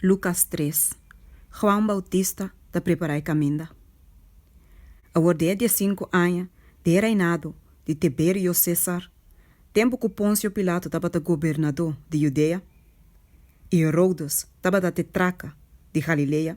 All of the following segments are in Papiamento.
Lucas tres, Juan Bautista ta prepará e kaminda. Awor di e diesinku aña di e reinado di Tiberio César, tempu ku Ponsio Pilato tabata gobernadó di Judea i Herodes tabata te traka di Galilea,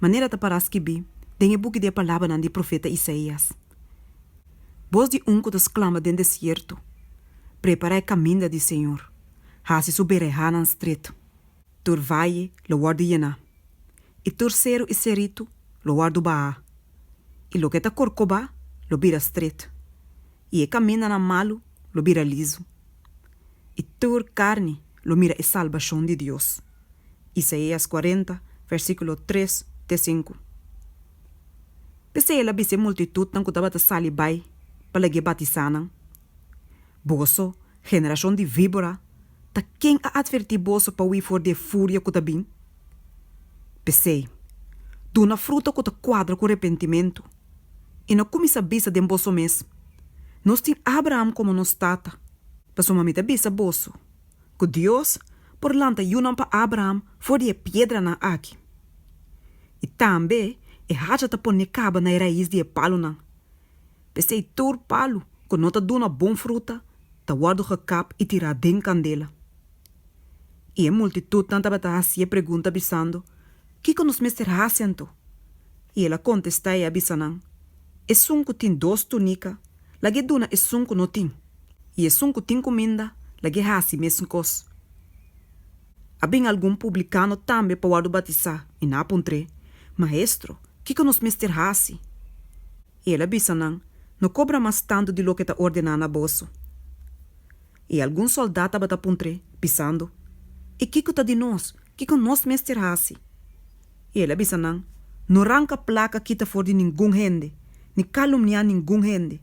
manera ta para skibí den e buki di e palabranan di profeta Isaías, Bos di un ku ta sklama den desierto, prepará e kaminda di Señor, hasi su berehánan stret. Tur vaye lo wòrdu yená, i tur seru i seritu lo wòrdu bahá, i loke ta korkobá lo bira stret, i e kamindanan malu lo bira lizu, i tur karni lo mira e salbashon di Dios. Isaias kuarenta, versíkulo tres te sinku. P'esei el a bisa e multitutnan ku tabata sali bai pa lagu'é batisá nan, Boso, generashon di víbora, ta ken a atvertí boso pa hui for di e furia ku ta bin? P'esei, duna fruta ku ta kuadra ku repentimentu, i no kuminsá bisa den boso mes, Nos tin Abraham komo nos tata. Pasobra mi ta bisa boso, ku Dios por lanta yunan pa Abraham for di e piedranan aki. I tambe e hacha ta poné kaba na e rais di e palunan. P'esei tur palu ku no ta duna bon fruta ta wòrdu gekap i tirá den kandela. I e multitutnan tabata hasié pregunta bisando, Kiko nos mester hasi anto? I el a kontestá, i a bisa nan, Esun ku tin dos túnika, lag'é duna esun ku no tin, i esun ku tin kuminda, lag'é hasi mesun kos. A bin algun publikano tambe pa wòrdu batisá, i nan a puntr'é, Maestro, kiko nos mester hasi? I el a bisa nan, No kobra mas tantu di loke ta ordená na boso. I algun sòldat tabata puntr'é, bisando, I kiko ta di nos? Kiko nos mester hasi? I el a bisa nan, No ranka plaka kita for di ningun hende, ni kalumniá ningun hende,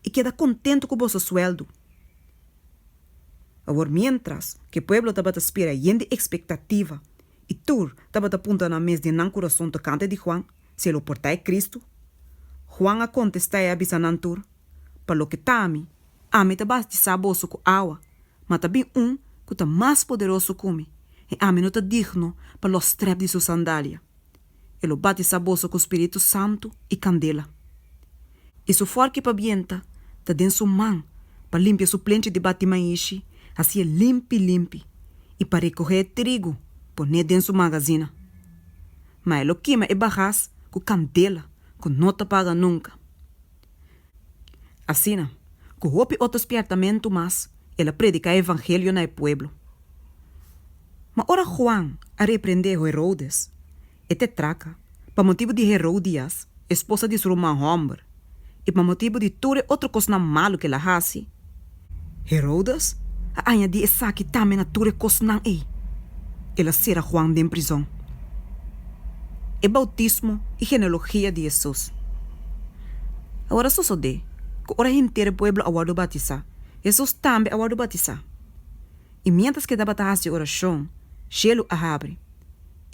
i keda kontentu ku boso suèldu. Awor miéntras ku e pueblo tabata spera yen di ekspektativa i tur tabata punta nan mes den nan kurason tokante di Huan, si e lo portá e Kristu, Huan a kontestá i a bisa nan tur, Pa loke ta ami, Ami ta bautisá boso ku awa, ma ta bin un ku ta mas poderoso ku mi, i ami no ta digno pa lo strèp di su sandalia. E lo bautisá boso ku spiritu santu i kandela. I su fòrki pa bienta ta den su man pa limpia su plenchi di bati maishi, hasié limpi limpi, i pa rekohé trigu, pon'é den su magazina. Ma e lo kima e bagas ku kandela ku no ta paga nunka. Asina, ku hopi otro spièrtamentu mas, el a prediká e evangelio na e pueblo. Ma ora Juan a reprendé Herodes, e tetraka, pa motibu di Heródias, esposa di su ruman hòmber, i pa motibu di tur e otro kosnan malu ku el a hasi, Herodes a añadí esaki tambe na tur e kosnan ei, el a sera Juan den prizòn, e boutismo i genealogia di Hesus. Awor a sosodé ku ora henter e pueblo a wòrdu bautisá, Hesus tambe a wòrdu bautisá. I miéntras ke tabata hasi orashon, shelu a habri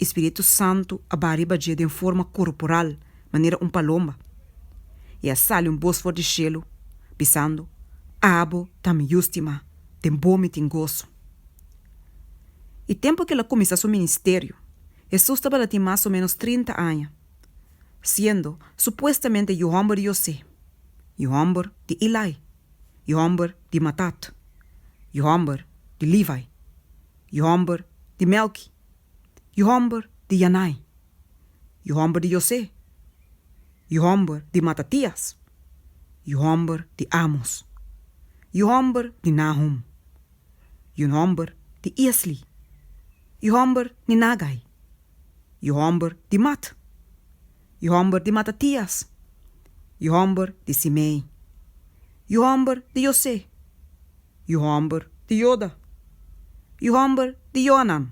i spiritu santu a baha riba dje den forma korporal. manera un palomba, i a sali un bos for di shelu, bisando, Abo ta mi Yu stimá, den bo mi tin goso. E tempu ku el a kuminsá su ministerio, Hesus tabata tin mas o ménos trinta aña, siendo supuestamente yu hòmber di José, yu hòmber di Ilai, yu hòmber di Matat, yu hòmber di Livai, yu hòmber di Mèlki, yu hòmber di Yanai. yu hòmber di José, yu hòmber di Matatias, yu hòmber di Amos, yu hòmber di Nahum, yu hòmber di Iesli, yu hòmber di Nagai, yu hòmber di Mat, yu hòmber di Matatias, yu hòmber di Simei, yu hòmber di José, yu hòmber di Joda, yu hòmber di Joanan,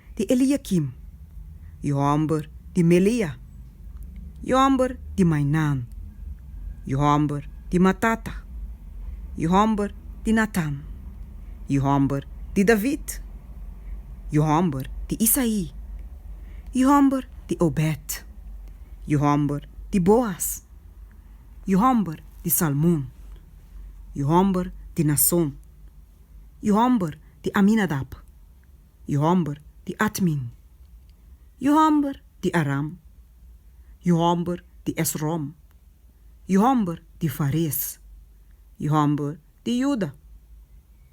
di Eliakim, e hòmber di Melea, e hòmber di Mainan, e hòmber di Matata, e hòmber di Natan, e hòmber di David, e hòmber di Isaí, e hòmber di Obèd, e hòmber di Boas, e hòmber di Salmon, e hòmber di Nason, e hòmber di Aminadab, yu hòmber di Atmin, yu hòmber di Aram, yu hòmber di Esrom, yu hòmber di Fares, yu hòmber di Juda,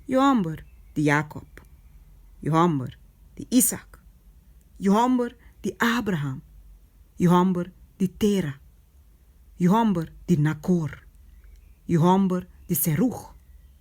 yu hòmber di Jakòb, yu hòmber di Isak, yu hòmber di Abraham, yu hòmber di Tera, yu hòmber di Nakor, yu hòmber di Serug,